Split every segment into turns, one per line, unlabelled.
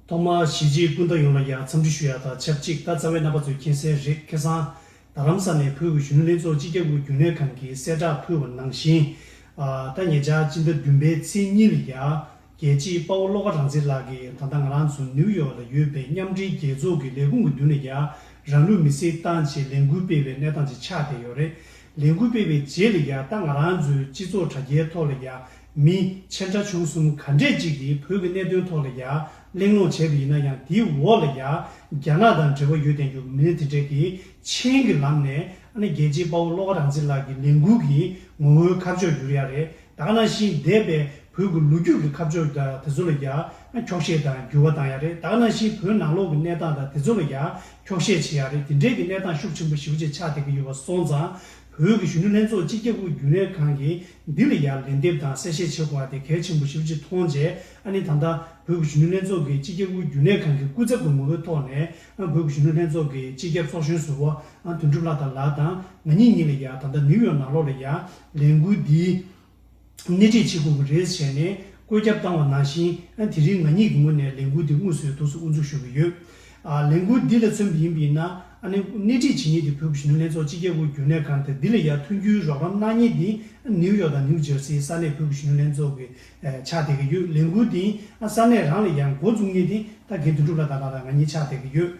ཐོག་མར་གཞིས་བྱེས་སྤུན་ཟླ་ཡོངས་ལ་ཡར་འཚམས་འདྲི་ཞུ་ཡག་དང་ཆབས་ཅིག་ད་རྩ་བའི་རྣམ་པ་ཚོས་མཁྱེན་གསལ་རེད་ཁེ་སང་རྡ་རམ་ས་ནས་བོད་ཀྱི་གཞོན་ནུ་ལྷན་ཚོགས་སྤྱི་ཁྱབ་དབུས་རྒྱུན་ལས་ཁང་གིས་གསལ་བསྒྲགས་ཕུལ་བ་ནང་བཞིན། ད་ཉེ་ཆར་སྤྱི་ཟླ་བདུན་པའི་ཚེས་གཉིས་ལ་ཡར་རྒྱལ་སྤྱིའི་དཔའ་བོ་བློ་དགའ་རང་བཙན་ལགས་ཀྱིས་ད་ལྟ་ང་རང་ཚོ་ནིའུ་ཡོག་ལ་ཡོད་པའི་མཉམ་འབྲེལ་རྒྱལ་ཚོགས་ཀྱི་ལས་ཁུངས་ཀྱི་མདུན་ལ་ཡར་རང་ལུས་མེ་བསྲེགས་བཏང་རྗེས་ལས་འགུལ་སྤེལ་བའི་གནས་སྟངས་ཅིག་ཆགས་བསྡད་ཡོད་རེད། ལས་འགུལ་སྤེལ་བའི་རྗེས་ལ་ཡར་ད་ང་རང་ཚོའི་སྤྱི་ཚོགས་དྲ་རྒྱའི་ཐོག་ལ་ཡར་མི་ཆེན་ཁྲ་ཆུང་གསུམ་ག་འདྲས་ཅིག་གིས་བོད་ཀྱི་གནད་དོན་ཐོག་ལ་ཡར་གླེང་སློང་བྱས་པ་ཡིན་ན་ཡང་དེའི་འོག་ལ་ཡར་རྒྱ་ནག་དང་འབྲེལ་བ་ཡོད་བསྟན་རྒྱུ་མི་སྣ་དེ་འདྲས་ཀྱིས་མཆན་གྱི་ལམ་ནས་ཨ་ནེ་རྒྱལ་གཅེས་དཔའ་བོ་བློ་དགའ་རང་བཙན་ལགས་ཀྱི་ལས་འགུལ་གྱི་ངོ་བོའི་ཁ་ཕྱོགས་འགྱུར་ཡག་རེད་དག་ན་བཞིན་འདས་པའི་བོད་ཀྱི་ལོ་རྒྱུས་ཀྱི་ཁ་ཕྱོགས་དེ་ཚོ་ལ་ཡར་འཁྱོག་བཤད་དང་འགྱུར་བ་བཏང་ཡག་རེད་དག་ན་བཞིན་བོད་ནང་ལོག་གི་གནས་སྟངས་དང་དེ་ཚོ་ལ་ཡར་འཁྱོག་བཤད་བྱེད་ཡག་རེད་དེ་འདྲས་ཀྱི་གནས་སྟངས་ཤུགས་ཆེན་པོ་ཞིབ་བྱེད་ཆགས་བསྡད་ཀྱི་ཡོད་པ་སོང་ཙང་བོད་ཀྱི་གཞོན་ནུ་ལྷན་ཚོགས་སྤྱི་ཁྱབ་པུའི་རྒྱུན་ལས་ཁང་གི་འདི་ལ་ཡང་ལན་འདེབས་དང་གསལ་བཤད་བྱེད་དགོས་པ་དེ་གལ་ཆེན་པོ་ཞིག་གཅིག་མཐོང་རྗེས་ཨ་ནི་ད་ལྟ་བོད་ཀྱི་གཞོན་ནུ་ལྷན་ཚོགས་ཀྱིས་སྤྱི་ཁྱབ་དབུས་རྒྱུན་ལས་ཁང་གི་སྐུ་ཚབ་ཀྱི་ངོ་བོའི་ཐོག་ནས་ཨ་བོད་ཀྱི་གཞོན་ནུ་ལྷན་ཚོགས་ཀྱི་སྤྱི་ཁྱབ་ཚོགས་གཞོན་ཟུར་བ་ཨ་དོན་གྲུབ་ལྷ་དར་ལགས་དང་ང་གཉིས་གཉིས་ལ་ཡང་ད་ལྟ་ནིའུ་ཡོག་ནང་ལོགས་ལ་ཡང་ལས་འགུལ་འདིའི་སྣེ་ཁྲིད་བྱེད་དགོས་ཀྱི་རེད་ཟེར་ནས་བཀོད་ཁྱབ་བཏང་བ་ནང་བཞིན་ཨ་དེ་རིང་ང་གཉིས་ཀྱི་ངོས་ནས་ལས་འགུལ་འདི་དངོས་སུ་ཡོད་དུས་སུ་དབུ་འཛུགས་ཞུ་གི་ཡོད། ལས་འགུལ་འདི་ལ་མཚོན་པ་ཡིན་པས་ན། ཨ་ནེ། སྣེ་ཁྲིད་བྱེད་ཉེས་དེ་བོད་ཀྱི་གཞོན་ནུ་ལྷན་ཚོགས་སྤྱི་རྒྱལ་དབུས་རྒྱུན་ལས་ཁང་དང་འདི་ལ་ཡར་ཐོན་རྒྱུའི་རོགས་རམ་གནང་ཉེས་དེ། ནིའུ་ཡོག་དང་ནིའུ་ཇར་སིའི་ས་གནས་བོད་ཀྱི་གཞོན་ནུ་ལྷན་ཚོགས་ཀྱི་ཕྱག་དེད་ཀྱི་ཡོད། ལས་འགུལ་འདིས་ཨ་ས་གནས་རང་ལ་ཡར་མགོ་བཙུགས་ཉེས་དེ་ད་གའི་དོན་གྲུབ་ལ་དྭགས་ལ་དང་ང་གཉིས་ཕྱག་དེད་ཀྱི་ཡོད།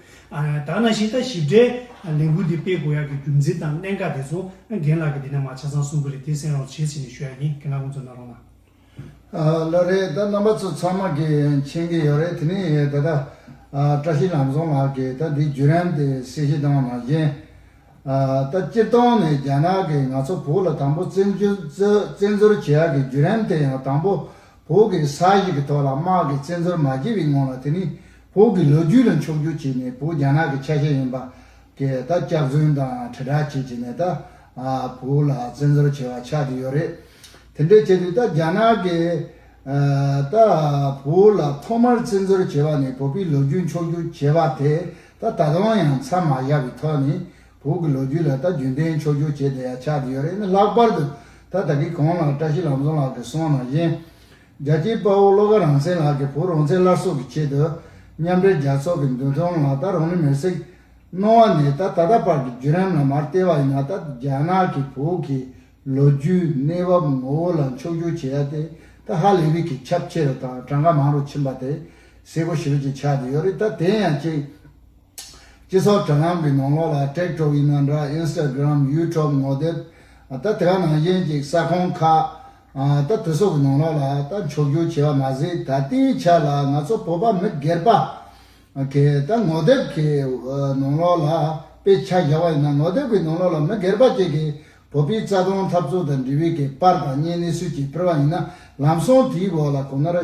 དྭགས་ནང་བཞིན་ད་ཞིབ་ཕྲའི་ལས་འགུལ་འདི་སྤེལ་དགོས་ཡག་གི་རྒྱུ་མཚན་དང་གནད་འགག་དེ་ཚོ་རྒན་ལགས་ཀྱིས་འདི་ན་མ་ཆ་ཚང་གསུང་གི་རེད་དེ་གསན་རོགས་བྱེད་ཟེར་ནས་ཞུ་ཡག་ཡིན་གན་ལགས་ཁོང་ཚོ་ན་རོགས་གནང། ལོ་
རེད་ད་རྣམ་པ་ཚོ་ཚང་མ་གིས་མཁྱེན་གྱི་ཡོད་རེད་དེ་ནི་ད་ལྟ་བཀྲ་ཤིས་ལམ་བཟང་ལགས་ཀྱིས་ད་འདི་བརྒྱུད་རན་ཏེ་གསལ་བཤད་བཏང་བ་ནང་བཞིན་ད་སྤྱིར་བཏང་ནས་རྒྱ་ནག་གིས་ང་ཚོ་བོད་ལ་དང་པོ་བཙན་བཙན་འཛུལ་བྱེད་ཡག་གི་བརྒྱུད་རན་དེ་ཡང་དང་པོ་བོད་ཀྱི་ས་ཞིག་གི་ཐོག་ལ་དམག་གིས་བཙན་འཛུལ་མ་བྱས་པའི་སྔོན་ལ་དེ་ནི་བོད་ཀྱི་ལོ་རྒྱུས་ལ་འཆོག་རྒྱུག་བྱས་ནས་བོད་རྒྱ་ནག་གི་ཆ་ཤས་ཡིན་པ་དེ་ད་སྐྱག་རྫུན་དང་དྲིལ་བསྒྲགས་བྱེད་བྱེད་ནས་ད་བོུ་ལ་བཙན་འཛོལ་བྱེད་བ་ཆགས་ཀྱི་ཡོད་རེད། དེ་འདྲས་བྱས་དུས་ད་རྒྱ་ནག་གིས་ད་བོུ་ལ་ཐོག་མར་བཙན་འཛོལ་བྱེད་བ་ནི་བོད་པའི་ལོ་རྒྱུས་འཁྱོག་རྒྱུག་བྱེད་བ་དེ་ད་ད་དུང་ཡང་མཚམས་མ་བཞག་པའི་ཐོག་ནས་བོུ་གི་ལོ་རྒྱུས་ལ་ད་རྒྱུན་ལྡན་འཁྱོག་རྒྱུག་བྱེད་བསྡད་ཡ་ཆགས་ཀྱི་ཡོད་རེད་ལྷག་པར་དུ་ད་ད་གི་གོང་ལ་བཀྲ་ཤིས་ལམ་བཟང་ལགས་ཀྱི་གསུང་ན་བཞིན་རྒྱལ་གཅེས་དཔའ་བོ་བློ་དགའ་རང་སེང་ལགས་ཀྱིས་བུ་རོང་ཚེ་སླར་གསོ་གི་ཆེད་དུ་མཉམ་འབྲེལ་རྒྱལ་ཚོགས་ཀྱི་མདུན་ཐོང་ལ་ད་རུང་ནི་མེར་བསྲེགས་གནོང་བ་ནས་ད་ད་ལྟ་བར་གྱི་བརྒྱུད་རིམ་ལ་མར་བལྟས་པ་ཡིན་ན་ད་རྒྱ་ནག་གི་བོད་ཀྱི་ལོ་རྒྱུས་གནས་བབ་ངོ་བོ་ལ་འཁྱོག་བསྒྱུར་བྱེད་ཡ་དེ་ད་ཧ་ལས་བི་གི་ཁྱབ་ཆེ་རུ་དང་གྲངས་ཀ་མང་རུ་ཕྱིན་པ་དེ་གསལ་པོ་ཞིབ་ཀྱིས་ཆགས་ཀྱི་ཡོད་རེད་ད་དེ་ཡང་གཅིག་སྤྱི་ཚོགས་དྲ་ལམ་གྱི་ནང་ལོགས་ལ་ཀྲེག་ཀྲོག་ཡིན་ན་འདྲ Instagram YouTube ངོ་དེབ་ད་དེ་ག་ནང་བཞིན་གཅིག་ས་ཁོངས་ཁག་ད་བོད་སོག་གི་ནང་ལག་ལ་ད་མཆོག་གྱུར་བྱེད་པ་མ་ཟད་ད་ལྟའི་ཆ་ལ་ང་ཚོ་བོད་པ་མི་སྒེར་པ་གི་ད་ངོ་དེབ་གི་ནང་ལག་ལ་དཔེ་ཆ་བཞག་པ་ཡིན་ན་ངོ་དེབ་གི་ནང་ལག་ལ་མི་སྒེར་པ་བཅས་ཀྱི་བོད་པའི་རྩ་དོན་འཐབ་རྩོད་དང་འབྲེལ་བའི་གི་པར་དང་བརྙན་གནས་ཚུལ་བཅས་ཕུལ་བ་ཡིན་ན་ལམ་སང་དེའི་འོག་ལ་གོང་ནར་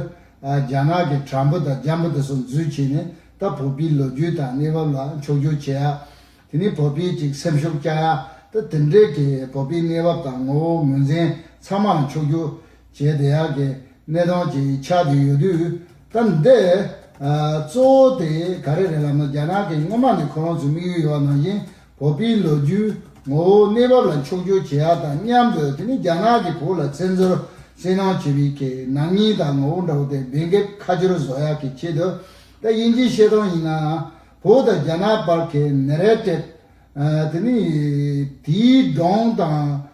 རྒྱ་ནག་གི་དྲ་འབུ་དང་རྒྱ་འབུ་དེ་ཚོ་འཛུལ་བྱས་ནས་ད་བོད་པའི་ལོ་རྒྱུས་དང་གནས་བབ་ལ་མཆོག་གྱུར་བྱེད་ཡག་དེ་ནི་བོད་པའི་གཅིག་སེམས་ཤུགས་རྐྱང་ཡ་དེ་དེ་འབྲེལ་གྱི་བོད་པའི་གནས་བབ་དང་ངོ་བོ་ངོས་འཛིན་ཚང་མ་ལ་ཕྱོགས་རྒྱུ་བྱས་དེ་ཡག་གི་གནས་སྟངས་ཀྱི་ཆ་དེ་ཡོད་དུས་ད་འདི་གཙོ་བོ་དེ་ག་རེ་རེད་ལབ་ན་རྒྱ་ནག་གི་སྔོན་མ་ནས་ཁོ་རང་ཚོའི་དམིགས་ཡུལ་ཡོད་པ་ནང་བཞིན་བོད་པའི་ལོ་རྒྱུས་ངོ་བོ་གནས་བབ་ལ་ཕྱོགས་རྒྱུ་བྱས་ཡག་དང་མཉམ་དུ་དེ་ནི་རྒྱ་ནག་གི་བོད་ལ་བཙན་འཛུལ་བསྲེ་ནང་བྱས་པའི་གི་ནག་ཉེས་དང་ངོ་བོ་འདྲ་བོ་དེ་སྦེད་འགེབས་ཁ་སྦྱོར་བཟོ་ཡག་གི་ཆེད་དུ་ད་དབྱིན་ཇིའི་བཤད་སྟངས་ཡིན་ནའང། བོད་དང་རྒྱ་ནག་བར་གྱི་ནེ་རལ་སྤྲད། དེ་ནི་དེའི་གདོང་དང།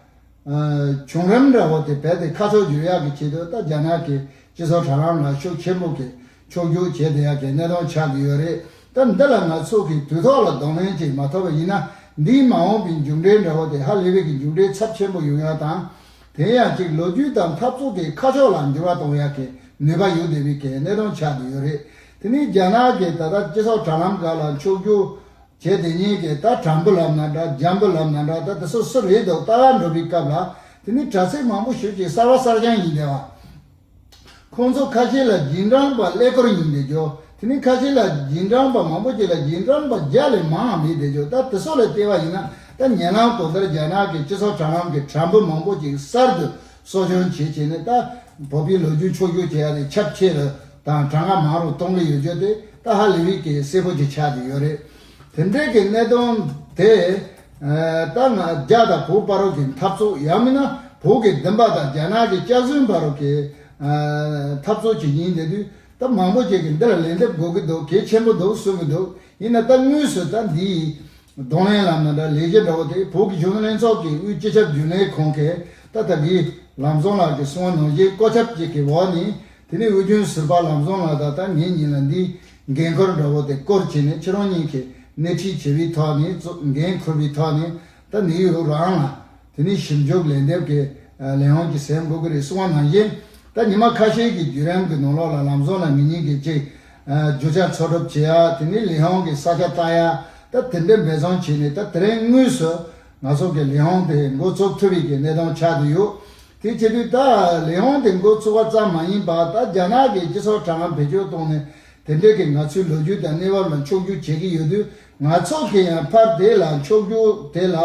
བྱུང་རིམ་འདྲ་བོ་དེ་བས་ཏེ་ཁ་ཕྱོགས་འཇུག་ཡག་གི་ཆེད་དུ་ད་རྒྱ་ནག་གི་སྤྱི་ཚོགས་དྲ་ལམ་ལ་ཤུགས་ཆེན་པོ་གིས་ཕྱོགས་རྒྱུག་བྱེད་བསྡད་ཡག་གི་གནད་དོན་ཆགས་ཀྱི་ཡོད་རེད་ད་འདི་ལ་ང་ཚོ་གིས་དུས་ཐོག་ལ་གདོང་ལེན་ཅིག་མ་ཐོབ་པ་ཡིན་ན་འདིའི་མ་འོངས་པའི་མཇུག་འབྲས་འདྲ་བོ་དེ་ཧ་ལས་པའི་གི་མཇུག་འབྲས་ཚབས་ཆེན་པོ་ཡོང་ཡག་དང། དེ་ཡང་གཅིག་ལོ་རྒྱུས་དང་འཐབ་རྩོད་ཀྱི་ཁ་ཕྱོགས་ལ་འགྱུར་བ་གཏོང་ཡག་གི་ནུས་པ་ཡོད་བསྡད་པའི་གི་གནད་དོན་ཆགས་བསྡད་ཡོད་རེད་དེ་ནས་རྒྱ་ནག་གིས་ད་ལྟ་སྤྱི་ཚོགས་དྲ་ལམ་འགའ་ལ་འཁྱོག་རྒྱུག་བྱས་དེ་ཉིད་ཀྱི་ད་དྲང་པོ་ལབ་ན་འདྲ་འཇམ་པོ་ལབ་ན་འདྲ་ད་དེ་སོ་སོ་རེད་འདུག་ལྟ་བ་འགྲོ་བའི་སྐབས་ལ་དེ་ནི་དྲ་ཚིགས་མང་པོ་ཞུགས་ཀྱི་གསར་བ་གསར་རྐྱང་ཡིན་དེ་བ། ཁོང་ཚོ་ཁ་ཤས་ལ་རྗེས་འབྲངས་པ་ཀླད་ཀོར་ཡིན་བསྡད་ཆོག་དེ་ནས་ཁ་ཤས་ལ་རྗེས་འབྲངས་པ་མང་པོ་ཅིག་ལ་རྗེས་འབྲངས་པ་བརྒྱ་ལས་མང་ཡང་མེད་བསྡད་ཆོག་ད་དེ་སོགས་ལས་བལྟས་པ་ཡིན་ན་ད་ཉེ་ལམ་གོང་ལྟར་རྒྱ་ནག་གི་སྤྱི་ཚོགས་དྲ་ལམ་གྱི་དྲ་འབུ་མང་པོ་ཅིག་གསར་དུ་གསོ་སྦྱོང་བྱེད་ཆེད་ནི་ཏཱ་བོ་པའི་ལོ་རྒྱུས་འཆོར་འགྱུར་བྱེད་ཡ་ནི་ཁྱབ་ཆེ་རུ་དང་གྲངས་ཀ་མང་རུ་གཏོང་གི་ཡོད་རྒྱུ་དེ་ཏཱ་ཧ་ལི་བྷིས་ཀྱི་སྲས་པོ་གཅིག་ཆགས་ཀྱི་ཡོད་རེད། དེ་འབྲེལ་གྱི་གནད་དོན་དེ་ཏཱ་ང་རྒྱ་དང་བོད་དཔའ་རོགས་ཀྱི་འཐབ་རྩོད་ཡང་མིན་ན་བོད་ཀྱི་བདུན་པ་དང་རྒྱ་ནག་གི་སྐྱག་རྫུན་དཔའ་རོགས་ཀྱི་འཐབ་རྩོད་ཅིག་ཡིན་དེ་དུས་ཏཱ་མང་པོ་ཅིག་གིས་འདིར་ལན་འདེབས་དགོས་ཀྱི་འདུག་གལ་ཆེན་པོ་འདུག་གསུང་གི་འདུག་ཡིན་ན་ཏཱ་དངོས་སུ་ཏཱ་འདིའི་གདོང་ལེན་ལ་མི་འདྲ་ལས་ཀྱི་འདྲ་བོ་དེ་བོད་གཞུང་ལྷན་ཚོགས་ཀྱི་དབུས་སྤྱི་ཁྱབ་རྒྱུན་ལས་ཁང་གི་ཏཱ་ཐ་གི་ལམ་བཟང་ལགས་ཀྱི་གསུང་བ་ནང་བཞིན་བཀའ་ཁྱབ་ཅིག་གི་འོག་ནས་དེ་ནས་དབུས་རྒྱུན་ཟུར་པ་ལམ་བཟང་ལགས་ད་ལྟ་ངེད་གཉིས་ལ་འདིའི་འགན་ཁུར་འདྲ་བོ་དེ་སྐོར་བྱས་ནས་ཁྱེད་རང་གཉིས་ཀྱིས་སྣེ་ཁྲིད་བྱས་པའི་ཐོག་ནས་གཙོ་འགན་ཁུར་པའི་ཐོག་ནས་ད་ནེའུ་ཡོག་རང་ལ་དེ་ནི་ཞིབ་འཇུག་ལན་འདེབས་ཀྱི་ལས་དབང་གི་ཟས་འགོག་གི་རིགས་སུ་བ་ནང་བཞིན་ད་ཉི་མ་ཁ་ཤས་ཀྱི་བརྒྱུད་རིམ་གྱི་ནང་ལོགས་ལ་ལམ་ཟོག་ལ་མི་ཉན་གི་ཅིག་རྒྱུ་ཆ་འཚོལ་སྒྲུབ་བྱེད་ཡ་དེ་ནི་ལས་དབང་གི་ས་ཆ་བརྟག་ཡ་ད་དེ་འདྲའི་འབད་བརྩོན་བྱས་ནས་ད་དེ་རིང་དངོས་སུ་ང་ཚོ་གི་ལས་དབང་དེ་འགོ་བཙུགས་ཐུབ་ཡི་གི་གནས་སྟངས་ཆགས་དུ་ཡོད་དེ་བྱས་དུས་ད་ལས་དབང་དེ་འགོ་བཙུགས་བ་ཙམ་མ་ཡིན་པ་ད་རྒྱ་ནག་གི་སྤྱི་ཚོགས་དྲ་ངམ་བེད་སྤྱོད་བཏང་ནས་དེ་འདྲའི་གི་ང་ཚོའི་ལོ་རྒྱུས་དང་གནས་བབ་ལ་འཁྱོག་རྒྱུག་བྱེད་གི་ཡོད་དུས་ང་ཚོ་གིས་ཡང་ཕར་དེ་ལ་ཕྱོགས་རྒྱུ་དེ་ལ་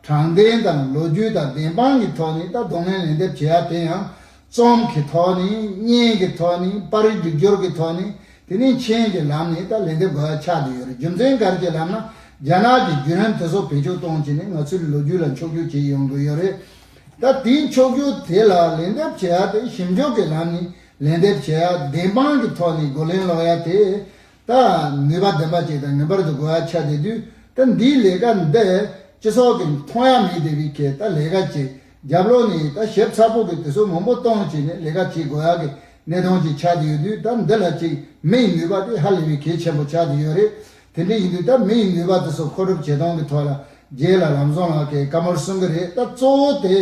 དྲང་བདེན་དང་ལོ་རྒྱུས་དང་བདེན་དཔང་གི་ཐོག་ནས་ད་གདོང་ལེན་ལན་འདེབས་བྱེད་ཡ་དེ་ཡང་རྩོམ་གི་ཐོག་ནས་བརྙན་གི་ཐོག་ནས་པར་རིས་སྒྲིག་སྦྱོར་གི་ཐོག་ནས་དེ་ནས་མཆན་གྱི་ལམ་ནས་ད་ལན་འདེབས་དགོས་ཡ་ཆགས་བསྡད་ཡོད་རེད་རྒྱུ་མཚན་སྒར་གྱི་ལམ་ན་རྒྱ་ནག་གི་བརྒྱུད་རིམ་དེ་ཚོ་བེད་སྤྱོད་གཏོང་བྱེད་ནས་ང་ཚོའི་ལོ་རྒྱུས་ལ་འཁྱོག་རྒྱུ་བྱེད་ཡོང་དགོས་ཡོད་རེད་ད་དེའི་འཁྱོག་རྒྱུ་དེ་ལ་ལན་འདེབས་བྱེད་ཡ་དེ་ཞིབ་འཇུག་གི་ལམ་ནས་ལན་འདེབས་བྱེད་ཡ་བདེན་དཔང་གི་ཐོག་ནས་རྒོལ་ལན་སློག་ཡ་དེ་དང་ནུས་པ་ལྡན་པ་ཅིག་དང་ངེས་པར་དུ་དགོས་ཡ་ཆགས་བསྡད་དུས་ད་འདིའི་ལས་ཀ་འདི་སྤྱི་ཚོགས་ཀྱི་མཐོང་ཡ་མེད་བསྡད་པའི་ཁེ་ད་ལས་ཀ་ཅིག་རྒྱབ་ལོག་ནས་ད་ཞིབ་ཚགས་པོ་གི་དུས་ཚོད་མང་པོ་གཏོང་བྱས་ནས་ལས་ཀ་བྱེད་དགོས་ཡ་གི་གནས་སྟངས་ཅིག་ཆགས་བསྡད་ཡོད་དུས་ད་འདི་ལ་ཅིག་མི་ཡི་ནུས་པ་དེ་ཧ་ལས་པའི་གེ་ཆེན་པོ་ཆགས་བསྡད་ཡོད་རེད་དེ་འདྲས་ཡིན་དུས་ད་མི་ཡི་ནུས་པ་དེ་ཚོ་མཁོ་སྒྲུབ་བྱེད་སྟངས་ཀྱི་ཐོག་ལ་རྒྱལ་ལ་ལམ་བཟང་ལགས་ཀྱི་བཀའ་མོལ་གསུང་གི་རེད་ད་གཙོ་བོ་དེ་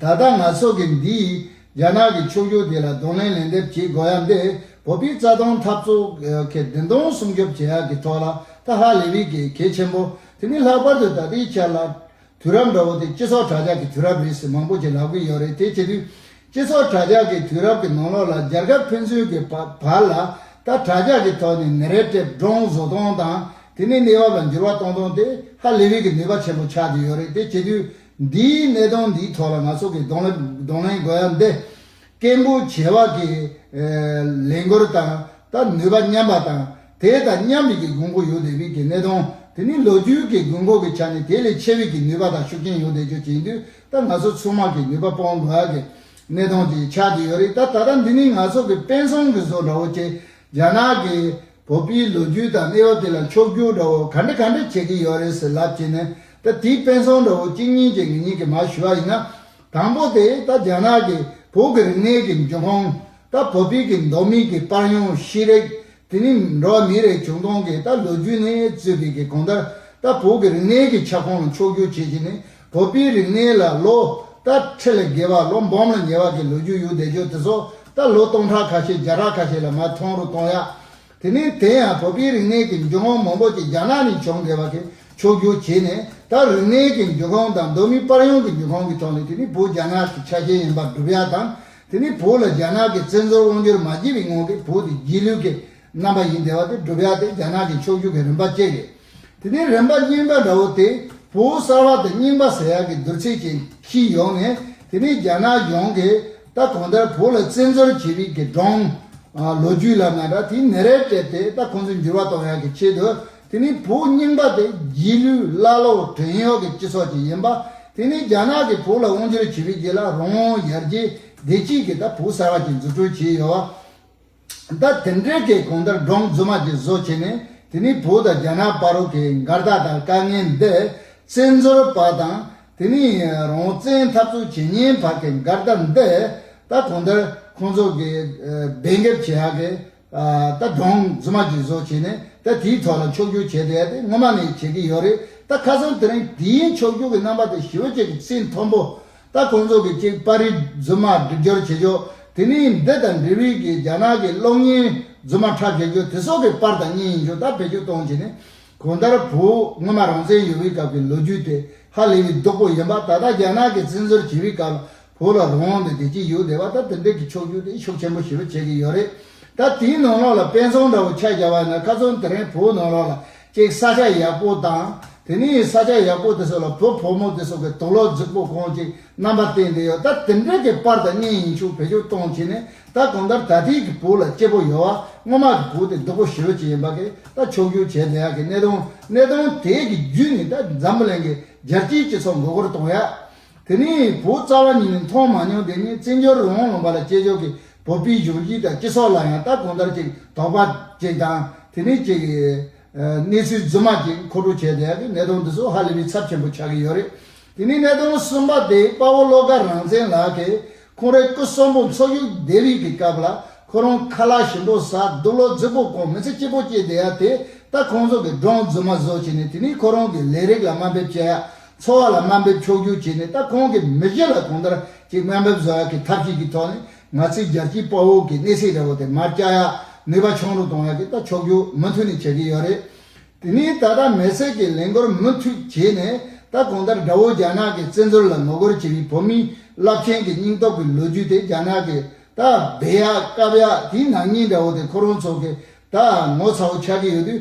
ད་ལྟ་ང་ཚོ་གིས་འདི་ཡིས་རྒྱ་ནག་གི་ཕྱུག་འགྱུར་དེ་ལ་གདོང་ལེན་ལན་འདེབས་བྱེད་དགོས་ཡ་འདི་བོད་པའི་རྩ་སྟོང་འཐབ་རྩོད་གི་བདེན་དོན་སྲུང་སྐྱོབ་བྱེད་ཡ་གི་ཐོག་ལ་ད་ཧ་ལས་བི་གི་གེ་ཆེན་པོ་དེ་མི་ལྷག་པར་དུ་ད་ལྟའི་ཆར་ལ་དུས་རབས་འདྲ་བོ་དེ་སྤྱི་ཚོགས་དྲྭ་ཇག་གི་དུས་རབས་རེད་ཟེར་མང་པོ་ཞིག་ལབ་གི་ཡོད་རེད་དེ་བྱེད་དུས་སྤྱི་ཚོགས་དྲྭ་ཇག་གི་དུས་རབས་ཀྱི་ནང་ལོགས་ལ་རྒྱལ་ཁབ་ཕན་ཚུན་གི་བར་ལ་ད་དྲྭ་ཇག་གི་ཐོག་ནས་ནི་རེ་དྲེབ་འདྲོང་བཟོ་སྟོང་དང་དེ་ནས་གནས་བབ་ལ་འགྱུར་བ་གཏོང་སྟོང་དེ་ཧ་ལས་བི་གི་ནུས་པ་ཆེན་པོ་ཆགས་ཀྱི་ཡོད་རེད་དེ་བྱེད་དུས་འདིའི་གནད་དོན་འདིའི་ཐོག་ལ་ང་ཚོ་གིས་གདོང་གདོང་ལེན་དགོས་ཡ་འདི། སྐད་འབོད་བྱེད་བག་གི་ལས་འགུལ་དང་ད་ནུས་པ་མཉམ་པ་དང་དེ་ད་མཉམ་རིགས་ཀྱི་དགོས་མཁོ་ཡོད་བསྡད་པའི་གི་གནད་དོན་དེ་ནི་ལོ་རྒྱུས་ཀྱི་དགོས་མཁོ་གི་ཆ་ནས་དེ་ལས་ཆེ་བའི་གི་ནུས་པ་དང་ཤུགས་རྐྱེན་ཡོད་བསྡད་ཆོག་བྱས་དུས་ད་ང་ཚོ་ཚུར་མར་གི་ནུས་པ་སྤོང་དགོས་ཡ་གི་གནད་དོན་དེ་ཆགས་ཀྱི་ཡོད་རེད་ད་ད་ལྟ་འདི་ནི་ང་ཚོ་གི་དཔེ་མཚོན་གི་བཟོ་འདྲ་བོ་སྟེ་རྒྱ་ནག་གི་བོད་པའི་ལོ་རྒྱུས་དང་གནས་བབ་དེ་ལ་འཁྱོག་རྒྱུག་འདྲ་བོ་ག་འདྲ་ག་འདྲ་བྱེད་ཀྱི་ཡོད་རེད་ཟེར་ལབ་བྱས་ནས་ད་དེའི་དཔེ་མཚོན་འདྲ་བོ་གཅིག་གཉིས་ཀྱིས་ངེད་གཉིས་ཀྱིས་མ་ཞུས་པ་ཡིན་ན། དང་པོ་དེ་ད་རྒྱ་ནག་གིས་བོད་ཀྱི་རིག་གནས་ཀྱི་འབྱུང་ཁུངས། ད་བོད་པའི་ཀྱི་མདོ་མིག་གི་པར་ཡང་ཤེས་རིག། དེ་ནས་འགྲོ་བ་མིའི་རིགས་བྱུང་སྟངས་ཀྱི་ད་ལོ་རྒྱུས་ནས་རྩོད་པའི་ཀྱི་གོང་ལྟར་ད་བོད་ཀྱི་རིག་གནས་ཀྱི་ཁྱབ་ཁོངས་ལ་འཁྱོག་རྒྱུག་བྱེད་བྱས་ནས་བོད་པའི་རིག་གནས་ལ་ལོ་ལྟར་ཁྲི་ལ་བརྒལ་བ་ལོ་འབུམ་ལ་ཉེ་བ་གི་ལོ་རྒྱུས་ཡོད་བསྡད་རྒྱུ་དེ་ཚོ་ད་ལོ་སྟོང་ཕྲག་ཁ་ཤས་བརྒྱ་ཕྲག་ཁ་ཤས་ལ་མ་མཐོང་རུ་གཏོང་ཡག་དེ་ནས་དེ་ཡང་བོད་པའི་རིག་གནས་ཀྱི་འཇུག་ངོགས་མང་པོ་ཅིག་རྒྱ་ནག་ནས་བྱུང་བསྡད་པ་དེ་ཕྱོགས་བསྒྱུར་བྱས་ནས་ད་རིག་གནས་ཀྱི་འཇུག་ཁོངས་དང་གདོད་མའི་པར་ཡོང་གི་འཇུག་ཁོངས་ཀྱི་ཐོག་ནས་དེ་ནི་བོད་རྒྱ་ནག་གི་ཆ་ཤས་ཡིན་པར་སྒྲུབ་ཡག་དང་དེ་ནི་བོད་ལ་རྒྱ་ནག་གི་བཙན་འཛུལ་དབང་བསྒྱུར་མ་བགྱིས་པའི་ངང་གིས་བོད་དེ་རྗེས་ལུས་ཀྱི་རྣམ་པ་ཡིན་དེ་བ་དེ་བསྒྲུབ་ཡ་དེ་རྒྱ་ནག་གི་ཕྱོགས་བསྒྱུར་གྱི་རིམ་པ་བཅས་རེད། དེ་ནས་རིམ་པ་རྙིང་པ་འདྲ་བོ་དེ་བོད་གསར་བ་དང་རྙིང་པ་ཟེར་ཡག་གི་བསྡུར་ཚད་ཅན་གྱིས་ཡོང་ནས་དེ་ནས་རྒྱ་ནག་ཡོངས་ཀྱིས་ད་གོང་ལྟར་བོད་ལ་བཙན་འཛུལ་བྱེད་རིགས་ཀྱི་སྒྲོང། ལོ་རྒྱུས་ལབ་ན་འདྲ་དེའི་ནི་རེ་སྤྲད་དེ་ད་ཁོང་ཚོས་འགྱུར་བ་གཏོང་ཡག་གི་ཆེད་དུ་དེ་ནི་བོད་རྙིང་པ་དེ་རྗེས་ལུས་བླ་སློབ་བྲན་གཡོག་གི་སྤྱི་ཚོགས་ཅིག་ཡིན་པ་དེ་ནི་རྒྱ་ནག་གིས་བོད་ལ་དབང་བསྒྱུར་བྱེད་པའི་རྗེས་ལ་རོང་ཡར་རྒྱས་བདེ་སྐྱིད་ཀྱིས་ད་བོད་གསར་བ་ཅིག་འཛུགས་སྐྲུན་བྱས་ཡོད་བ། ད་དེ་འདྲའི་ཁའི་གོང་ལྟར་འབྲོང་རྫུན་མ་གྱི་བཟོ་བྱས་ནས་དེ་ནི་བོད་དང་རྒྱ་ནག་པ་རུ་ཁའི་མགར་སྟག་དང་དཀའ་ངལ་འདས་བཙན་འཛོལ་བ་དང་དེ་ནི་རང་བཙན་འཐབ་རྩོད་བྱེད་ཉེན་བར་གྱི་མགར་སྟག་འདས་ད་གོང་ལྟར་ཁོང་ཚོ་གི་སྦས་འགེབས་བྱེད་ཧ་གི་ད་འབྲོང་རྫུན་མ་གྱི་བཟོ་བྱས་ནས་ད་དེའི་ཐོག་ལ་མཆོག་གྱུར་བྱས་བསྡད་དེ་སྔོན་མ་ནས་བྱེད་ཀྱི་ཡོད་རེད་ད་ཁ་སང་དེ་རིང་དེའི་མཆོག་གྱུར་གྱི་རྣམ་པ་དེ་ཞི་བ་བཅས་ཀྱི་ཚེས་མཐོན་པོ་ད་ཁོང་ཚོ་གི་ཅིག་པ་རིས་རྫུན་མ་སྒྲིག་སྦྱོར་བྱེད་རྒྱུ་དེ་ནི་འདི་དང་འབྲེལ་བའི་གི་རྒྱ་ནག་གི་གློག་བརྙན་རྫུན་མ་ཁྲ་བྱེད་རྒྱུ་དེ་སོགས་གི་པར་དང་བརྙན་ཡིན་རྒྱུ་ད་བེད་སྤྱོད་གཏོང་བྱེད་ནི་གོང་ལྟར་བུ་སྔོན་མ་རང་བཙན་ཡོད་པའི་སྐབས་གི་ལོ་རྒྱུས་དེ་ཧ་ལས་པའི་སྡུག་པོ་ཡིན་པ་ད་ལྟ་རྒྱ་ནག་གི་བཙན་འཛུལ་བྱེད་པའི་སྐབས་ལ་བུ་ལ་རང་དབང་དེ་དེ་གཅིག་ཡོད་བསྡད་པ་ད་དེ་འདྲས་གི་ཆོག་རྒྱུ་དེ་ཤུགས་ཆེན་པོ་ཞེ་པོ་བྱེད་གི་ཡོད་རེད་ད་དེའི་ནང་ལོགས་ལ་དཔེ་མཚོན་འདྲ་བོ་ཆགས་རྒྱ་བ་ཡིན་ན་ཁ་ཚོན་དེ་རིང་བུ་ནང་ལོགས་ལ་ཅེག་ས་ཆ་ཡག་པོ་དང་དེ་ནས་ཡིན་ས་ཆ་ཡག་པོ་དེ་སོགས་ལ་བོད་ཕོ་མོ་དེ་སོགས་ཀྱི་དོགས་སློག་རྫིག་པོ་གང་ཅིག་རྣམ་པ་བསྟན་བསྡད་ཡོད་ད་དེ་འདྲ་གི་པར་དང་བརྙན་ཡིན་ཆུག་བེད་སྤྱོད་གཏོང་བྱས་ནས་ད་གང་ལྟར་ད་ཐེངས་ཀྱི་བོད་ལ་སྐྱེ་བོ་ཡོ་བ་སྔོན་མ་གི་བོད་དེ་སྡུག་པོ་ཞི་བ་ཅིག་ཡིན་པ་གི་ད་ཕྱོགས་སྒྱུར་བྱས་བསྡད་ཡག་གི་གནད་དོན་གནད་དོན་དེ་གི་རྒྱུད་ནི་ད་འཛམ་བུ་གླིང་གི་རྒྱལ་སྤྱིའི་སྤྱི་ཚོགས་མགོ་སྐོར་གཏོང་ཡག་དེ་ནས་བོད་རྩ་བ་ཉིད་ནས་མཐོང་མ་མྱོང་དེ་ནས་བཙན་བྱོལ་རོང་བོ་ལུང་པ་ལ་སྐྱེས་མཆོག་གི་བོད་པའི་གཞུང་བཞེས་དང་སྤྱི་ཚོགས་ལ་ཡང་ལྟ་གང་ལྟར་ཅིག་དོགས་པ་ཅིག་དང་དེ་ནས་ཅིག་གནས་ཚུལ་རྫུན་མ་ཅིག་མཁོ་སྤྲོད་བྱས་བསྡད་ནས་གནས་སྟངས་འདི་ཚོ་ཧ་ལས་པའི་ཚབས་ཆེན་པོ་ཆགས་ཀྱི་ཡོད་རེད། དེ་ནས་གནས་སྟངས་གསུམ་པ་དེ་དཔའ་བོ་བློ་དགའ་རང་བཙན་ལགས་ཀྱིས་ཁོང་རེ་སྐུ་གསོན་པོ་འཚོ་བཞུགས་བསྡད་རིགས་ཀྱི་སྐབས་ལ་ཁོ་རང་ཁ་ལག་ཞིམ་པོ་ཟ་སྡུག་ལོ་རྫི་པོ་ཁོང་མི་ཚེ་སྐྱིད་པོ་སྐྱེལ་བསྡད་ཡ་དེ་ལྟ་ཁོང་ཚོ་གི་སྒྲོངས་རྫུན་མ་བཟོ་བྱས་ནས་དེ་ནས་ཁོ་རང་གི་ལས་རིགས་ལ་དམའ་འབེབས་བྱས་ཡ་འཚོ་བ་ལ་དམའ་འབེབས་ཕྱོགས་སྒྱུར་བྱས་ནས་ད་ཁོང་གིས་མི་གཞི་ལ་གོང་ལྟར་གྱི་དམའ་འབེབས་བཟོ་ཡག་གི་ཐབས་ཤེས་ཀྱི་ཐོག་ནས་ང་ཚོའི་རྒྱལ་སྤྱིའི་དཔའ་བོ་གི་གནས་སའི་རི་བོ་དེ་མར་བསྐྱལ་ཡག་ནུས་པ་ཆུང་རུ་གཏོང་ཡག་གི་ད་ཕྱོགས་སྒྱུར་མུ་མཐུད་ནས་བྱེད་ཀྱི་ཡོད་རེད། དེ་ནས་ད་ལྟ་མེ་སྲེག་གི་ལས་འགོར་མུ་མཐུད་བྱས་ནས་ད་གོང་ལྟར་དགྲ་བོ་རྒྱ་ནག་གི་བཙན་འཛུལ་ལ་ངོ་རྒོལ་བྱེད་མི་བོད་མིའི་རླབས་ཆེན་གྱི་སྙིང་སྟོབས་ཀྱི་ལོ་རྒྱུས་དེ་རྒྱ་ནག་གི་ད་སྦས་ཡག་བཀབ་ཡག་དེའི་ནང་ཉིད་དགྲ་བོ་དེ་ཁོ་རང་ཚོ་གི་ད་ངོ་ཚ་བོ་ཆགས་ཀྱི་ཡོད་དུས་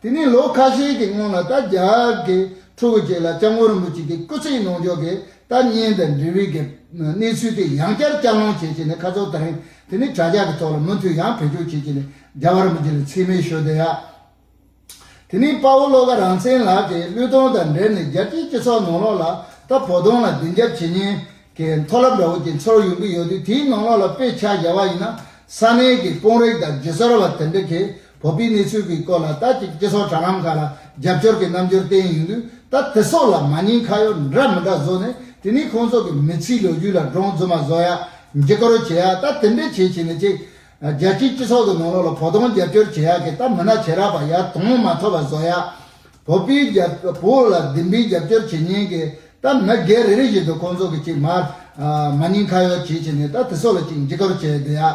དེ་ནས་ལོ་ཁ་ཤས་ཀྱི་སྔོན་ལ་རྟ་རྒྱག་གི་ཕྲུ་གུ་ཅིག་ལ་སྐྱབས་མགོན་རིན་པོ་ཆེ་གིས་སྐུ་ཚེའི་གནོང་འགྱོད་ཀྱི་རྟ་རྙིང་དང་འབྲེལ་བའི་གནས་ཚུལ་དེ་ཡང་བསྐྱར་བསྐྱར་སློང་བྱེད་ཀྱི་ནས་ཁ་ཚོར་དང་དེ་ནས་དྲ་རྒྱ་གི་ཐོག་ལ་མུ་མཐུད་ཡང་བེད་སྤྱོད་བྱེད་ཀྱི་ནས་རྒྱ་བ་རིན་པོ་ཆེ་ལ་འཚེ་མེད་ཞོ་སྟོན་ཡ། དེ་ནས་དཔའ་བོ་བློ་དགའ་རང་བཙན་ལགས་ཀྱིས་གླུད་གཏོང་དང་འབྲེལ་ནས་རྒྱལ་སྤྱིའི་སྤྱི་ཚོགས་ནང་ལོག་ལ་རྟ་ཕོ་གདོང་ལ་སྡིངས་རྒྱབ་བྱེད་ཉེན་གྱི་མཐོ་རླབས་འདྲ་བོ་དེ་ཚོར་ཡོང་གི་ཡོད་དུས་དེའི་ནང་ལོག་ལ་དཔེ་ཆ་རྒྱ་བ་ཡིན་ན་ས་གནས་ཀྱི་དཔོན་རིགས་དང་རྗེས་སོར་བ་དེ་འདྲ་གིས་བོད་པའི་གནས་ཚུལ་གྱི་སྐོར་ལ་ད་ཅིག་སྤྱི་ཚོགས་དྲ་ལམ་ཁག་ལ་རྒྱབ་སྐྱོར་གྱི་རྣམ་འགྱུར་བསྟན་ཡོང་དུས་ད་དེ་སོགས་ལ་མ་ཉེས་ཁ་གཡོག་འདྲ་མི་འདྲ་བཟོ་ནས་དེ་ནས་ཁོང་ཚོ་གི་མི་ཚེའི་ལོ་རྒྱུས་ལ་སྒྲོང་བཙུགས་མ་བཟོ་ཡག་འགྱིག་ཁ་རོ་བྱེད་ཡག་ད་དེ་འདྲས་བྱེད་བྱེད་ནས་ཅིག་རྒྱལ་སྤྱིའི་སྤྱི་ཚོགས་གི་ནང་ལོག་ལ་བོ་དོང་རྒྱབ་སྐྱོར་བྱེད་ཡག་གི་ད་མི་ནག་བྱེད་རག་པ་ཡག་དོང་མ་ཐོབ་པ་བཟོ་ཡག་བོད་པའི་རྒྱབ་བོད་ལ་བདེན་པའི་རྒྱབ་སྐྱོར་བྱེད་ཉེན་གི་ད་མི་སྒེར་རེ་རེ་བཞིན་དུ་ཁོང་ཚོ་གི་ཅིག་མར་མ་ཉེས་ཁ་གཡོག་བྱེད་བྱེད་ནས་ད་དེ་སོགས་ལ་ཅིག་འགྱིག་ཁ་རོ་བྱེད་ཡག།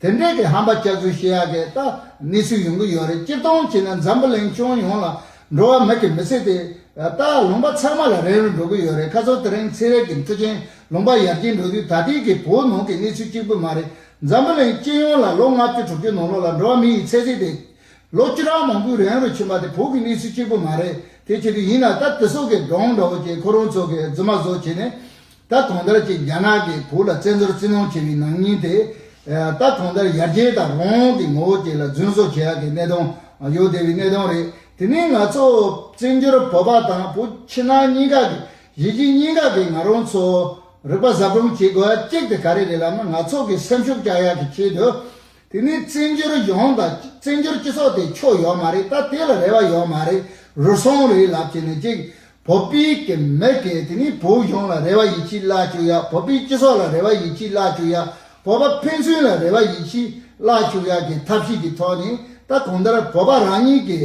དེ་འབྲེལ་གྱི་ཧམ་པ་སྐྱག་རྫུན་བཤད་ཡག་གི་ལྟ་གནས་ཚུལ་ཡོང་གི་ཡོད་རེད་སྤྱིར་བཏང་བྱས་ན་འཛམ་བུ་གླིང་སྐྱོང་ཡོང་ལ་འགྲོ་བ་མི་གི་མི་ཚེ་དེ་ལྟ་ལུང་པ་ཚང་མ་ལ་རན་རུ་འགྲོ་གི་ཡོད་རེད་ཁ་སང་དེ་རིང་ཚེ་རལ་གྱི་མཐུ་ཆེན་ལུང་པ་ཡར་རྒྱས་འགྲོ་དུས་ད་ལྟའི་གི་བོད་ནང་གི་གནས་ཚུལ་གཅིག་པུ་མ་རེད་འཛམ་བུ་གླིང་སྤྱི་ཡོངས་ལ་ལོ་ལྔ་བཅུ་དྲུག་ཅུ་ནང་ལོག་ལ་འགྲོ་བ་མི་ཡི་ཚེ་ཚད་དེ་ལོ་བཅུ་གྲངས་མང་པོའི་རན་རུ་ཕྱིན་པ་དེ་བོད་གི་གནས་ཚུལ་གཅིག་པུ་མ་རེད་དེ་བྱེད་དུས་ཡིན་ན་ད་དེ་སོག་གི་འགྲོང་འདྲ་བོ་ཀྱི་ཁོ་རང་ཚོ་གི་རྫུན་མ་བཟོ་བྱས་ནས་ད་གོང་ལྟར་གྱི་རྒྱ་ནག་གིས་བོད་ལ་བཙན་འཛུལ་བཙིར་གནོང་བྱས་པའི་ནང་སྙིང་དེ། ད་གོང་ལྟར་ཡར་རྒྱས་དང་རོང་གི་ངོ་བོ་བཅས་ལ་རྫུན་བཟོ་བྱེད་ཡག་གི་གནད་དོན་ཡོད་བསྡད་པའི་གནད་དོན་རེད། དེ་ནི་ང་ཚོ་བཙན་འབྱོར་བོད་པ་དང་བོད་ཕྱི་ནང་གཉིས་ཀ་གི་གཞིས་བྱེས་གཉིས་ཀ་གི་ང་རང་ཚོ་རིག་པ་ཟབ་སྦྲོང་བྱེད་དགོས་ཡ་གཅིག་དེ་ག་རེ་རེད་ལབ་ན་ང་ཚོ་གི་སེམས་ཤུགས་བཅག་ཡག་གི་ཆེད་དུ། དེ་ནི་བཙན་བྱོལ་ཡོངས་དང་བཙན་བྱོལ་སྤྱི་ཚོགས་དེ་ཕྱོགས་ཡོད་མ་རེད་ད་དེ་ལ་རེ་བ་ཡོད་མ་རེད་རུལ་སོང་རེད་ལབ་བྱས་ནས་ཅིག་བོད་པའི་གི་མི་གི་དེ་ནི་བོད་གཞུང་ལ་རེ་བ་ཡིད་ཆེས་བརླག་བཅུག་ཡ་བོད་པའི་སྤྱི་ཚོགས་ལ་རེ་བ་ཡིད་ཆེས་བརླག་བཅུག་ཡ་བོད་པ་ཕན་ཚུན་ལ་རེ་བ་ཡིད་ཆེས་བརླག་བཅུག་ཡ་གི་ཐབས་ཤེས་ཀྱི་ཐོག་ནས་ད་གོང་ལྟར་བོད་པ་རང་ཉིད་གི་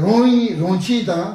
རུང་རིན་རུང་ཆིས་དང།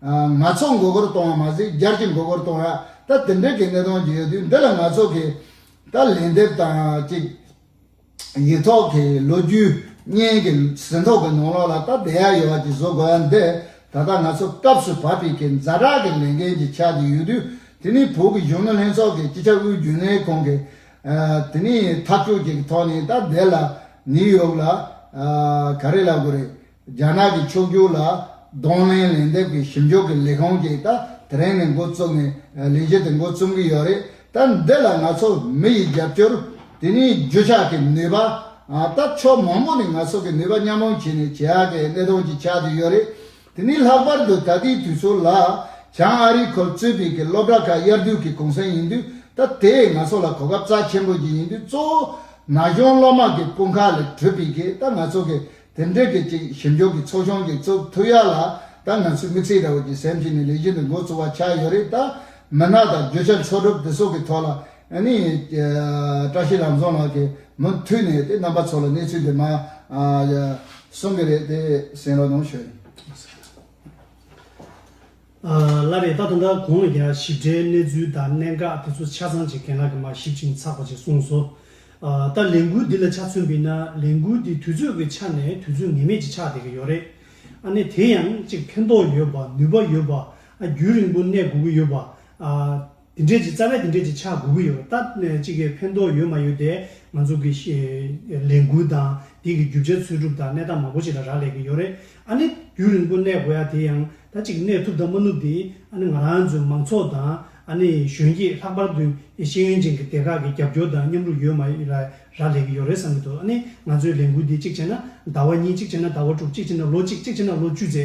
ནག་ཚོགས་མགོ་སྐོར་གཏོང་བ་མ་ཟད་རྒྱར་གྱི་མགོ་སྐོར་གཏོང་ཡ་ད་དེ་འདྲའི་གི་གནས་སྟངས་ཀྱི་ཡོད་དུས་འདི་ལ་ནག་ཚོགས་ཀྱི་ད་ལན་འདེབས་དང་ཅིག་ཡིག་ཐོག་གི་ལོ་རྒྱུས་བརྙན་གྱི་ཟིན་ཐོག་གི་ནོངས་ལོག་ལ་ད་བསྡད་ཡ་ཡོད་བ་ཅིག་བཟོ་དགོས་ཡ་འདི་ད་ལྟ་ནག་ཚོགས་སྐབས་སུ་བབ་པའི་གི་འཛའ་གྲགས་གི་ལས་འགན་ཅིག་ཆགས་ཀྱི་ཡོད་དུས་དེ་ནི་བོད་གི་གཞོན་ནུ་ལྷན་ཚོགས་ཀྱི་སྤྱི་ཁྱབ་དབུས་རྒྱུན་ལས་ཁང་གི་དེ་ནི་ཐབས་སྐྱོ་ཅིག་གི་ཐོག་ནས་ད་བསྡད་ལ་ནི་ཡོད་ལ་ག་རེ་ལ་དགོས་རེད། རྒྱ་ནག་གི་ཕྱོགས་སྒྱུར་ལ་གདོང་ལེན་ལན་འདེབས་ཀྱི་ཞིབ་འཇུག་གི་ལས་ཁུངས་ཀྱིས་ད་དེ་རིང་ནས་འགོ་བཙུགས་ནས་ལས་གཞི་དེ་འགོ་རྩོམ་གྱི་ཡོད་རེད། ད་འདི་ལ་ང་ཚོ་མི་ཡི་རྒྱབ་སྐྱོར། དེ་ནས་རྒྱུ་ཆ་གི་ནུས་པ། ད་ཕྱོགས་མང་པོ་ནས་ང་ཚོ་གི་ནུས་པ་མཉམ་སྤུངས་བྱས་ནས་བྱེད་ཨ་ཀའི་གནད་དོན་གྱི་ཆ་དེ་ཡོད་རེད། དེ་ནས་ལྷག་པར་དུ་ད་ལྟའི་དུས་ཚོད་ལ། བྱང་ཨ་རིའི་ཁོལ་རྩོད་པའི་གི་སློབ་གྲྭ་ཁག་དབྱར་དུས་གི་གུང་སེང་ཡིན་དུས་ད་དེ་ང་ཚོ་ལ་གོ་སྐབས་རྩ་ཆེན་པོ་ཞིག་ཡིན་དུས་གཙོ་བོ་ན་གཞོན་སློབ་མ་གི་དཔུང་ཁག་ལས་གྲུབ་པའི་གི་ད་ང་ཚོ་གི་དེར་འབྲེལ་གྱི་གཅིག་ཞིབ་འཇུག་གི་ཚོགས་ཆུང་གི་གཙོ་ཐུ་ཡག་ལ་ད་ང་ཚོས་མི་ཚེའི་དགྲ་བོ་གྱི་སེམས་ཤིག་ནས་ལས་གཞི་འདི་འགོ་བཙུགས་པ་ཆགས་ཡོད་རེད་ད། མི་སྣ་དང་རྒྱུ་ཆ་འཚོལ་སྒྲུབ་དེ་སོགས་ཀྱི་ཐོག་ལ་ནི། བཀྲ་ཤིས་ལམ་བཟང་ལགས་ཀྱིས་མུ་མཐུད་ནས་དེ་རྣམ་པ་ཚོ་ལ་གནས་ཚུལ་དེ་མ། གསུང་གི་རེད་དེ་གསན་རོགས་གནང་ཞུ།
ལ་རེ་ད་ད་ལྟ་གོང་ལ་ཡང་ཞིབ་ཕྲའི་གནས་ཚུལ་དང་གནད་འགག་དེ་ཚོ་ཆ་ཚང་ཅིག་རྒན་ལགས་ཀྱིས་མ་ཞིབ་ཅིང་ཚགས་པ་ཅིག་གསུངས་སོ། ད་ལས་འགུལ་འདི་ལ་ཆ་མཚོན་པིན་ན་ལས་འགུལ་འདི་དུས་ཚོད་ཀྱི་ཆ་ནས་དུས་ཚོད་ངེས་མེད་ཅིག་ཆགས་བསྡད་ཀྱི་ཡོད་རེད། ཨ་ནི་དེ་ཡང་ཅིག་ཕན་ཐོགས་ཡོད་པ་ནུས་པ་ཡོད་པ་ཨ་རྒྱུན་རིང་པོ་གནས་དགོས་ཀྱི་ཡོད་པ་ཨ། དེ་འབྲེལ་གྱི་རྩ་བའི་དེ་འབྲེལ་གྱི་ཆ་དགུ་དགུ་ཡོད་པ་ལྟར་ན་གཅིག་གིས་ཕན་ཐོགས་ཡོད་མ་ཡོད་དེ་ང་ཚོ་གི་ལས་འགུལ་དང་དེ་གི་རྒྱུ་ཆ་འཚོལ་སྒྲུབ་དང་གནས་སྟངས་མང་པོ་ཞིག་ལ་རག་ལས་ཀྱི་ཡོད་རེད་ཨ་ནི་དུས་རིང་པོ་གནས་དགོས་ཡ་དེ་ཡང་ད་ཅིག་གནས་ཐུབ་དང་མ་ནུབ་དེ་ཨ་ནི་ང་རང་ཚོའི་མང་ཚོགས་དང་ཨ་ནི་གཞོན་སྐྱེས་ལྷག་པར་དུ་ཤེས་ཡོན་ཅན་གྱི་སྡེ་ཁག་གི་རྒྱབ་སྐྱོར་དང་མཉམ་རུབ་ཡོད་མ་ཡོད་ལ་རག་ལས་ཀྱི་ཡོད་རེད་བསམ་གྱི་འདུག་ཨ་ནི་ང་ཚོའི་ལས་འགུལ་འདི་གཅིག་བྱས་ན་ཟླ་བ་གཉིས་གཅིག་བྱས་ན་ཟླ་བ་དྲུག་གཅིག་བྱས་ན་ལོ་གཅིག་གཅིག་བྱས་ན་ལོ་བཅུ་ཚེ་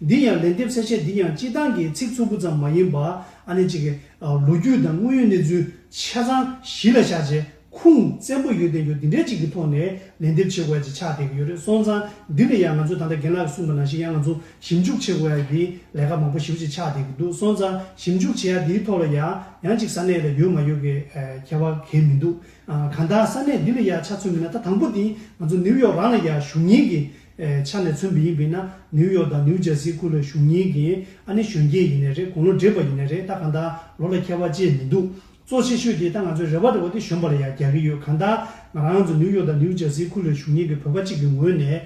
འདིར་ཡང་ལན་འདེབས་གསལ་བཤད་འདི་ཡང་སྤྱི་བཏང་གི་ཚིག་ཚུགས་པོ་ཙམ་མ་ཡིན་པ་ཨ་ནེ་གཅིག་གི་ལོ་རྒྱུས་དང་དངོས་ཡོད་གནས་ཚུལ་ཆ་ཚང་གཞི་ལ་བཞག་རྗེས་ཁུངས་བཙན་པོ་ཡོད་བསྟན་འགྱུར་འདི་འདྲའི་ཅིག་གི་ཐོག་ནས་ལན་འདེབས་བྱེད་དགོས་ཡ་ཅིག་ཆགས་བསྡད་ཀྱི་ཡོད་རེད་སོང་ཙང་འདི་ལ་ཡང་ང་ཚོས་ད་ལྟ་རྒན་ལགས་གིས་གསུངས་པ་ནང་བཞིན་ཡང་ང་ཚོ་ཞིབ་འཇུག་བྱེད་དགོས་ཡ་ཡིན་ལས་ཀ་མང་པོ་ཞིབ་ཅིག་ཆགས་བསྡད་ཀྱི་འདུག་སོང་ཙང་ཞིབ་འཇུག་བྱེད་ཡ་འདིའི་ཐོག་ལ་ཡང་ཡང་ཅིག་ས་གནས་ལ་ཡོད་མ་ཡོད་ཀྱི་ཁྱད་པར་གལ་མི་འདུག་གང་དག་ས་གནས་འདི་ལ་ཡ་ཆ་མཚོན་མིན་ན་ད་དང་པོ་དེ་ང་ཚོ་ནིའུ་ཡོག་རང་ལ་ཡ་བཞུགས་ཉིན་གྱི་ཆ་ནས་མཚོན་བི་ཡིག་བི་ན་ནིའུ་ཡོག་དང་ནིའུ་ཇར་སི་ཁུལ་ལ་བཞུགས་ཉིན་གྱི་ཨ་ནི་གཞོན་སྐྱེས་ཡིན་ནའི་རེད་དགུང་ལོ་འདྲེས་པ་ཡིན་ནའི་རེད་ད་གང་ལྟར་ལོ་ལ་ཁྱད་པར་ཅིས་མི་འདུག་གཙོ་ཆེ་ཤོས་དེ་ད་ང་ཚོའི་རེ་བ་འདྲ་བོ་དེ་གཞོན་པ་ལ་ཡང་རྒྱག་གི་ཡོད་གང་ལྟར་ང་རང་ཚོ་ནིའུ་ཡོག་དང་ནིའུ་ཇར་སི་ཁུལ་ལ་བཞུགས་ཉིན་གྱི་བོད་པ་གཅིག་གི་ངོས་ནས།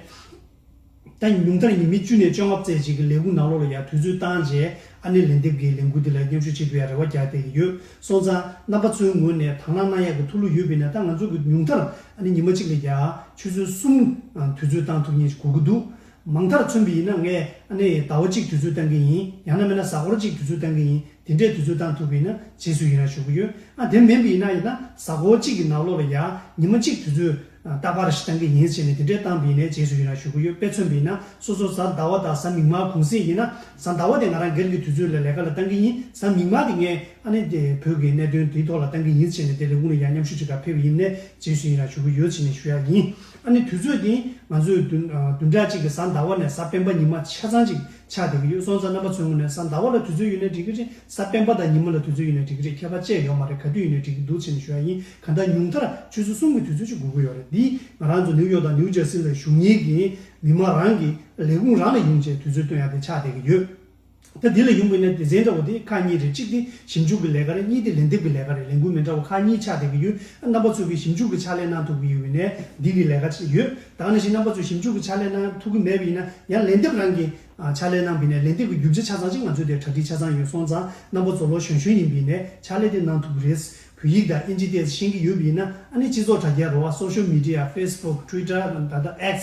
ད་ཉུང་མཐར་ཉིན་མི་བཅུ་ནས་བཅོ་ལྔ་བརྩེགས་བཅས་ཀྱི་ལས་ཁུངས་ནང་ལོག་ལ་ཡར་དུས་ཚོད་བཏང་རྗེས་ཨ་ནེ་ལན་འདེབས་ཀྱི་ལས་འགུལ་འདི་ལ་མཉམ་ཞུགས་བྱེད་དགོས་ཡ་རེ་བ་རྒྱག་བསྡད་ཀྱི་ཡོད། སོང་ཙང་རྣམ་པ་ཚོའི་ངོས་ནས་དྭང་བླངས་གནང་ཡག་གི་ཐུགས་བློ་ཡོད་པས་ན་ད་ང་ཚོ་གི་ཉུང་མཐར་ཨ་ནེ་ཉི་མ་གཅིག་ལས་རྒྱ་ཆུ་ཚོད་གསུམ་དུས་ཚོད་བཏང་ཐུབ་ངེས་ཞིག་གོ་གི་འདུག་མང་མཐར་མཚོན་པའི་ཡིན་ན་ངས་ཨ་ནེ་ཟླ་བ་གཅིག་དུས་ཚོད་བཏང་གི་ཡིན་ཡང་ན་མེད་ན་གཟའ་འཁོར་གཅིག་དུས་ཚོད་བཏང་གི་ཡིན་དེ་འདྲའི་དུས་ཚོད་བཏང་ཐུབ་པའི་ཡིན་ན་རྗེས་སུ་ཡིན་རང་ཞུ་གི་ཡོད་ཨ་དེ་མིན་པའི་ཡིན་ན་ཡིན་ན་གཟའ་འཁོར་གཅིག་གི་ནང་ལོགས་ལ་ཡ་ཉི་མ་གཅིག་དུས་ཚོད་རྟ་པར་ཞེས་གཏམ་གྱི་ཉིན་བྱས་ནས་དེ་འདྲའི་གཏམ་སྦས་ནས་རྗེས་སུ་ཡི་རང་ཞུ་གི་ཡོད་དཔེ་མཚོན་པའི་ན་སོ་སོ་གཟའ་ཟླ་བ་དང་གཟའ་མིག་དམར་གུང་གསེང་ཡིན་ན་གཟའ་ཟླ་བ་དེ་ང་རང་སྒེར་གྱི་དུས་ཚོད་ལ་ལས་ཀ་ལ་གཏང་གི་ཡིན་གཟའ་མིག་དམར་དེ་ངས་ཨ་ནེ་དེ་བོད་ཀྱི་གནད་དོན་དེའི་ཐོག་ལ་གཏང་གི་ཡིན་བྱས་ནས་དེ་རེ་སྐུང་ནས་ཡང་མཉམ་ཞུགས་བྱེད་ཐབས་ཕེབས་ཡིན་ནས་རྗེས་སུ་ཡི་རང་ཞུ་གི་ཡོད་བྱས་ནས་ཞུ་ཡག་ཡིན་ཨ་ནེ་དུས་ཚོད་དེ་ང་ཚོས་བདུན་ཕྲག་གཅིག་གི་གཟའ་ཟླ་བ་ནས་གཟའ་སྤེན་པ་ཉི་མ་ཆ་ཚང་ཅིག་ཆགས་བསྡད་གི་ཡོད་སོང་ཙང་རྣམ་པ་ཚོས་དངོས་ནས་གཟའ་ཟླ་བ་ལ་དུས་ཚོད་ཡོད་ནས་འགྲིག་གི་རེད་གཟའ་སྤེན་པ་དང་ཉི་མ་ལ་དུས་ཚོད་ཡོད་ནས་འགྲིག་གི་རེད་ཁྱད་པར་བཅས་ཡོད་མ་རེད་ག་དུས་ཡོད་ནས་འགྲིག་གི་འདུག་བྱས་ནས་ཞུ་ཡག་ཡིན། ག་ད་ཉུང་མཐར་ཆུ་ཚོད་གསུམ་གྱི་དུས་ཚོད་ཅིག་དགོས་ཀྱི་ཡོད་རེད་འདིས་ང་རང་ཚོ་ནིའུ་ཡོག་དང་ནིའུ་ཇར་སི་ལ་བཞུགས་ཉིན་གྱི་མི་མང་རང་གི་ལས་ཁུངས་རང་ལ་ཡོང་ཆེད་དུས་ཚོད་སྟོན་ཡ་དེ་ཆགས་བསྡད་ཀྱི་ཡོད། ད་འདི་ལ་ཡོང་གི་ནས་སྡེ་ཚན་འདྲ་བོ་དེ་ཁག་གཉིས་རེད་གཅིག་དེ་ཞིབ་འཇུག་གི་ལས་ཀ་རེད་གཉིས་དེ་ལན་འདེབས་ཀྱི་ལས་ཀ་རེད་ལས་འགུལ་མི་འདྲ་བོ་ཁག་གཉིས་ཆགས་བསྡད་ཀྱི་ཡོད་ཨ་རྣམ་པ་ཚོས་གི་ཞིབ་འཇུག་གི་ཕྱག་ལས་གནང་ཐུབ་ཀྱི་ཡོད་ནས་འདི་གི་ལས་ཀ་ཆེད་ཡོད་ད་ནང་བཞིན་རྣམ་པ་ཚོས་ཞིབ་འཇུག་གི་ཕྱག་ལས་གནང་ཐུབ་ཀྱི་མེད་པ་ཡིན་ན་ཡང་ལན་འདེབས་རང་གི་ཕྱག་ལས་གནང་བི་ནས་ལན་འདེབས་ཀྱི་རྒྱུ་ཆ་ཆ་ཚང་ཅིག་ང་ཚོའི་དེར་གྲ་སྒྲིག་ཆ་ཚང་ཡོད་སོང་ཙང་རྣམ་པ་ཚོ་ལོ་གཞོན་གཞོན་ཡིན་བི་ནས་ཕྱག་ལས་དེ་གནང་ཐུབ་ཀྱི་རེད་བོད་ཡིག་དང་ཨིན་ཇི་སྟེ་ཤེས་ཀྱི་ཡོད་པ་ཡིན་ན་ཨ་ནི་སྤྱི་ཚོགས་དྲ་རྒྱ་རུ་བ Social Media Facebook Twitter དང་ད་ལྟ X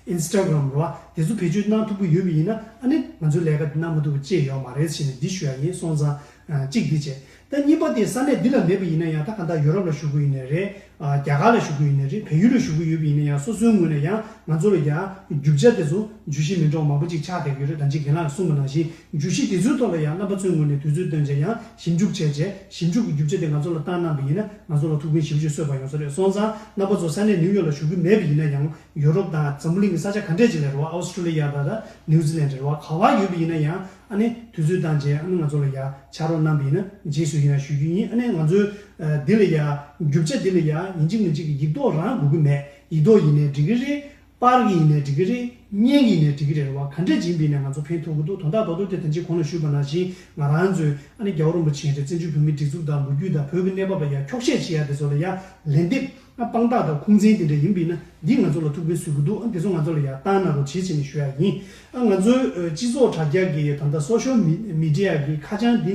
Instagram རུ་བ་དེ་ཚོ་བེད་སྤྱོད་གནང་ཐུབ་ཀྱི་ཡོད་པ་ཡིན་ན་ཨ་ནི་ང་ཚོའི་ལས་ཀ་འདི་གནང་མ་ཐུབ་པ་ཅེས་ཡོག་མ་རེད་བྱས་ནས་འདི་ཞུ་ཡག་ཡིན་སོང་ཙང་གཅིག་འདི་བྱས་ད་གཉིས་པ་དེ་ས་གནས་འདི་ལ་མེད་པ་ཡིན་ན་ཡང་ད་ག་ད་ཡོ་རོབ་ལ་བཞུགས་ཀྱི་ཡོད་ནི་རེད་རྒྱ་གར་ལ་བཞུགས་ཀྱི་ཡོད་ནི་རེད་བལ་ཡུལ་ལ་བཞུགས་ཀྱི་ཡོད་པ་ཡིན་ན་ཡང་སོ་སོའི་ངོས་ནས་ཡང་ང་ཚོ་ལ་ཡང་རྒྱུ་བྱ་དེ་ཚོ་འཇུ་བཞིན་མིན་གྲོགས་མང་པོ་ཅིག་ཆགས་བསྡད་ཀྱི་རེད་ད་འཇིག་རྒན་ལགས་ཀྱི་གསུངས་པ་ནང་བཞིན་བརྗོད་གཞི་དེ་ཚོའི་ཐོག་ལ་ཡང་རྣམ་པ་ཚོའི་ངོས་ནས་དུས་ཚོད་སྟོན་བྱས་ཀྱང་ཞིབ་འཇུག་བྱས་རྗེས་ཞིབ་འཇུག་གི་རྒྱུ་ཆ་དེ་ང་ཚོ་ལ་བཏང་གནང་པ་ཡིན་ན་ང་ཚོ་ལ་ཐུགས་ཕན་ཞིབ་ཆོས་གསོས་པ་ཡོང་ས་རེད་སོང་ཙང་རྣམ་པ་ཚོ་ས་གནས་ནིའུ་ཡོག་ལ་ཞུགས་ཀྱི་མེད་པ་ཡིན་ན་ཡང་ཡོ་རོབ་དང་འཛམ་བུ་གླིང་གི་ས་ཆ་ག་འདྲས་ཅིག་ལ་རེ་བ་ཨའོ་སི་ཀྲུ་ལི་ཡ་དང་ནིའུ་ཛི་ལན་རེ་བ་ག་བ་ཡོད་པ་ཡིན་ན་ཡང་ཨ་ནི་དུས་ཚོད་བཏང་རྗེས་ཨ་ནི་ང་ཚོ་ལ་ཡ་ཆ་རོགས་གནང་པ་ཡིན་ན་རྗེས་སུ་ཡིན་ཡང་ཞུ་རྒྱུ་ཡིན་ཨ་ནི་ང་ཚོའི་འདི་ལ་ཡ་རྒྱུ་ཆ་འདི་ལ་ཡ་ཡིན་གཅིག་མིན་གཅིག་གི་ཡིག་ཐོག་རང་དགོས་ཀྱི་མེད་ཡིག་ཐོག་ཡིན་ནའི་འགྲིག་གི་རེད་པར་གྱི་ཡིན་ནའི་འགྲིག་གི་རེད། བརྙན་གྱི་ཡིན་ནའི་འགྲིག་གི་རེད་རེད་བ་ག་འདྲ་བྱིན་པའི་ནས་ང་ཚོ་ཕན་ཐོག་གི་འདུག་དོན་དག་རྡོག་རྡོག་དེ་དང་ཅིག་གོང་ནས་ཞུས་པ་ནང་བཞིན་ང་རང་ཚོའི་ཨ་ནེ་རྒྱ་བོ་རིན་པོ་ཆེན་རེད་བཙན་བྱོལ་བོད་མིའི་སྒྲིག་འཛུགས་དང་ལོ་རྒྱུས་དང་བོད་ཀྱི་གནས་བབ་ལ་ཡར་འཁྱོག་བཤད་བྱེད་ཡ་དེ་ཚོ་ལ་ཡར་ལན་འདེབས་ཨ་དཔང་རྟགས་དང་ཁུངས་བཙན་དེ་འདྲ་ཡིན་པའི་ན་འདིས་ང་ཚོ་ལ་ཐུགས་ཕན་གསོས་གི་འདུག་ཨ་དེ་ཚོ་ང་ཚོ་ལ་ཡར་བཏང་གནང་རོགས་བྱེད་བྱས་ནས་ཞུ་ཡ་ཡིན་ཨ་ང་ཚོའི་སྤྱི་ཚོགས་དྲ་རྒྱ་གི་ད་ལྟ Social Media གི་ཁ་བྱང་འདི་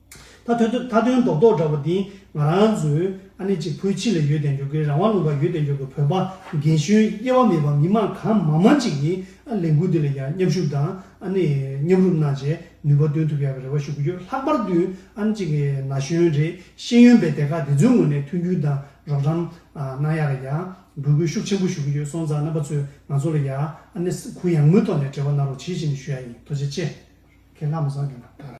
ད་ཐོན་ཐོན་ད་ཐོན་མདོག་མདོག་འདྲ་བོ་འདི་ང་རང་ཚོའི་ཨ་ནེ་གཅིག་བུ་ཕྱི་ལ་ཡོད་དེ་འབྱོར་གི་རང་དབང་ལུང་པར་ཡོད་དེ་འབྱོར་གི་བོད་པ་རྒན་གཞོན་དབྱེ་བ་མེད་པར་མི་མང་གང་མང་མང་ཅིག་གིས་ཨ་ལས་འགུལ་འདི་ལ་ཡང་མཉམ་ཞུགས་དང་ཨ་ནེ་མཉམ་རུབ་གནང་བྱས་ནུས་པ་འདོན་ཐུབ་ཡག་གི་རེ་བ་ཞུ་གི་ཡོད་ལྷག་པར་དུ་ཨ་ནེ་གཅིག་གི་ན་གཞོན་རེ་ཤེས་ཡོན་པའི་སྡེ་ཁག་དེ་ཚོའི་ངོས་ནས་མཐུན་འགྱུར་དང་རོགས་རམ་གནང་ཡག་ལ་ཡག་འབོད་སྐུལ་ཤུགས་ཆེན་པོ་ཞུ་གི་ཡོད་སོང་ཙང་རྣམ་པ་ཚོས་ང་ཚོ་ལ་ཡག་ཨ་ནེ་ས་ཁུལ་ཡང་མོའི་ཐོག་ནས་འབྲེལ་བ་གནང་རོགས་ཇི་བཞིན་ཞུ་ཡག་ཡིན་དོ་ཆེ་ཆེ། ཁྱེད་ལྷག་མ་བཟང་གི་ན།